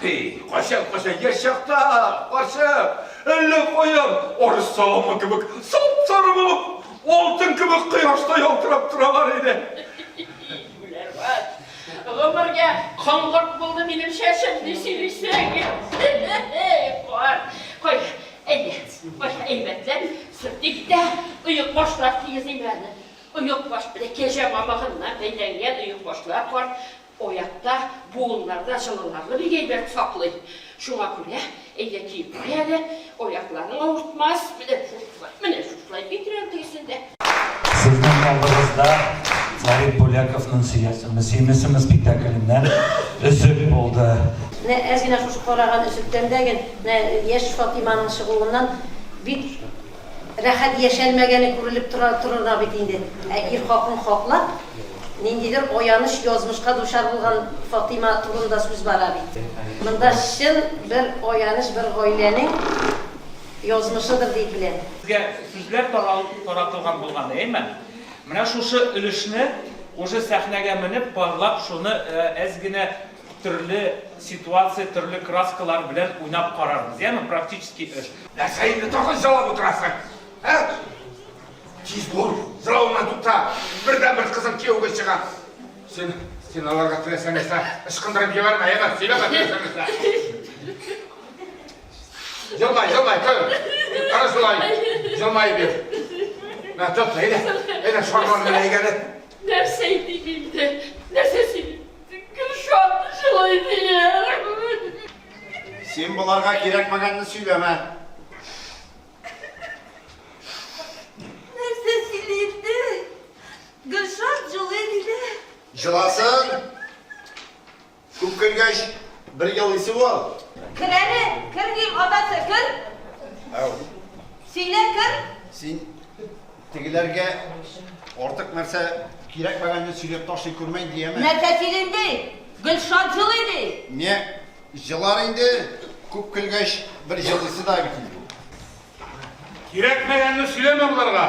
Хей, качан, качан, яшь чакта, карчык, әллә каян, арыс саламы кебек, сап-сары булып, алтын кебек кояшта ялтырап торалар иде. Гүләрват, гомергә коңгырт булды минем чәчем, ди сөйлисең. Кар, кой, әйдә, кой, әйбәтлән, сөртик тә, оек башлар тигезлим әле. Оек баш, бәләкәҗә мамыгыннан бәйләнгән оек башлар кар, Оятта, буыннарда җылыларны бик әйбәт саклый. Шуңа күрә, әйдә киеп куй әле, аякларың авыртмас. Менә шушылай, менә шушылай битрән тегесен дә. Сезнең алдыгызда Фәрит Бүләковның Сөясеңме, сөймисеңме спектакленнән өзек булды. Менә әз генә шушы караган өзектән дә ген, менә яшь Фатиманың чыгуыннан бик. Рәхәт яшәлмәгәне күрелеп тора торырга бит инде. Ә ир хакын хаклап, ниндидер аяныч язмышка дучар булган Фатыйма турында сүз бара бит. Монда чын бер аяныч бер гаиләнең язмышыдыр дип беләм. Сезгә сүзләр таратылган булган, әйеме? Менә шушы өлешне уже сәхнәгә менеп, парлап, шуны әз генә Төрле ситуация, төрле краскалар белән уйнап карарбыз, яме практический эш. Нәрсә инде тагын җылап утырасың? Ә? Тиз бул, җылавыңнан тукта. Бердән бер кызым кияүгә чыга. Син, син аларга теләсә нәрсә ычкындырып җибәрмә, яме, сөйләмә теләсә нәрсә. Җылмай, җылмай, көл. Ара шулай. Җылмай бир. Мә, тот, әйдә. Әйдә, шарларны әйгәле. Нәрсә инде инде? Нәрсә сөйли? Гөлшат җылый дияр. Син боларга кирәкмәгәнне сөйләмә. Нәрсә сөйли инде? Гөлшат җылый диде. Җыласын. Күп көлгәч, бер елыйсы ул. Кер әле, кер дим, атасы, кер. Ау. Сөйлә, кер. Син Тегеләргә артык нәрсә кирәкмәгәнне сөйләп ташлый күрмәйм диеме? Нәрсә сөйлим ди? Гөлшат җылый ди. Не, җылар инде, күп көлгәч, бер җылысы да бит инде. Кирәкмәгәнне сөйләмә боларга.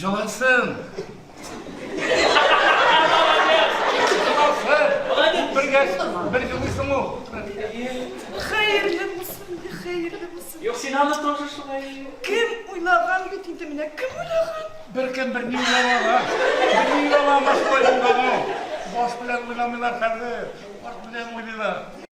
Җылысын! Бер җылыйсың ул! Хәерле булсын, хәерле булсын! Юк, син аны тоже шулай. Кем уйлаган бит инде менә, кем уйлаган? Беркем берни уйламаган. Берни уйламаган, шулай булган ул. Баш белән уйламыйлар хәзер, арт белән уйлыйлар.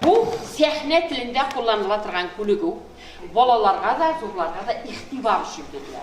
Бу сәхнә телендә кулланыла торган күнегү, балаларга да, зурларга да игътибар өчен бирелә.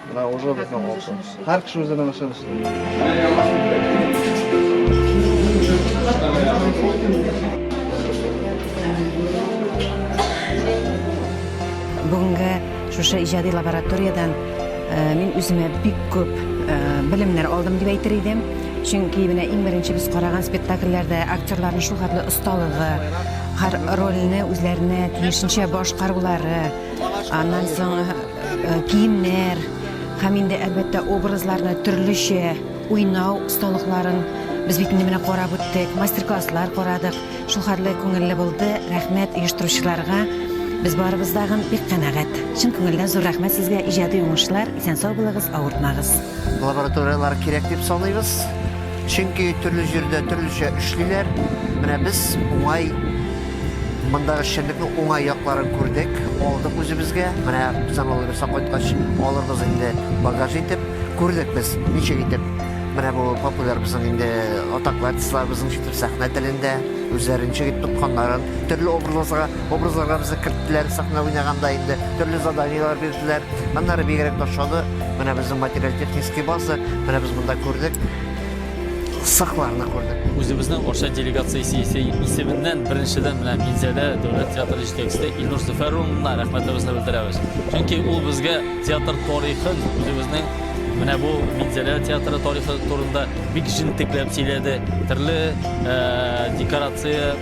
Менә уже безнең алты. Һәр кеше үзенең эшен эшли. Бүгенге шушы иҗади лабораториядән э, мин үземә бик күп э, белемнәр алдым дип әйтер идем. Чөнки менә иң беренче без караган спектакльләрдә актерларның шул хәтле осталыгы, һәр рольне үзләренә тиешенчә башкарулары, аннан соң э, киемнәр һәм инде әлбәттә образларны төрлечә уйнау осталыкларын без бит инде менә карап үттек мастер-класслар карадык шул хәтле күңелле булды рәхмәт оештыручыларга без барыбыз да бик канәгать чын күңелдән зур рәхмәт сезгә иҗади уңышлар исән сау булыгыз авыртмагыз лабораториялар кирәк дип саныйбыз чөнки төрле җирдә төрлечә эшлиләр менә без уңай Мондагы эшчәнлекнең уңай якларын күрдек, алдык үзебезгә. Менә без аннан Ульберстан кайткач алырбыз инде багаж итеп. Күрдек без, ничек итеп менә бу популяр безнең инде атаклы артистларыбызның ничек итеп сәхнә телендә үзләрен ничек итеп тотканнарын, төрле образларга, образларга безне керттеләр сәхнә уйнаганда инде, төрле заданиеләр бирделәр. Аннары бигрәк тә ошады менә безнең материаль-технический база, менә без монда күрдек. сакчыларны күрдек. Үзебезнең Арча делегациясе исеменнән беренчедән менә Минзәлә дәүләт театры җитәкчесе Илнур Зөфәр улына рәхмәтебезне белдерәбез. Чөнки ул безгә театр тарихын, үзебезнең менә бу Минзәлә театры тарихы турында бик җентекләп сөйләде. Төрле декорация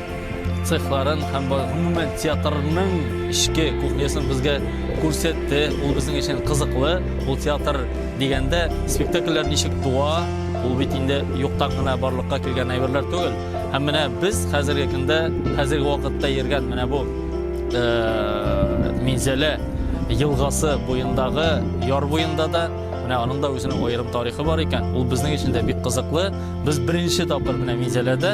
цехларын һәм гомумән театрның эчке кухнясын безгә күрсәтте. Ул безнең өчен кызыклы. Ул театр дигәндә спектакльләр ничек туа, ул бит инде юктан гына барлыкка килгән әйберләр түгел. Һәм менә без хәзерге көндә, хәзерге вакытта йөргән менә бу э, Минзәлә елгасы буендагы яр буенда да менә аның да үзенең аерым тарихы бар икән. Ул безнең өчен дә бик кызыклы. Без беренче тапкыр менә Минзәләдә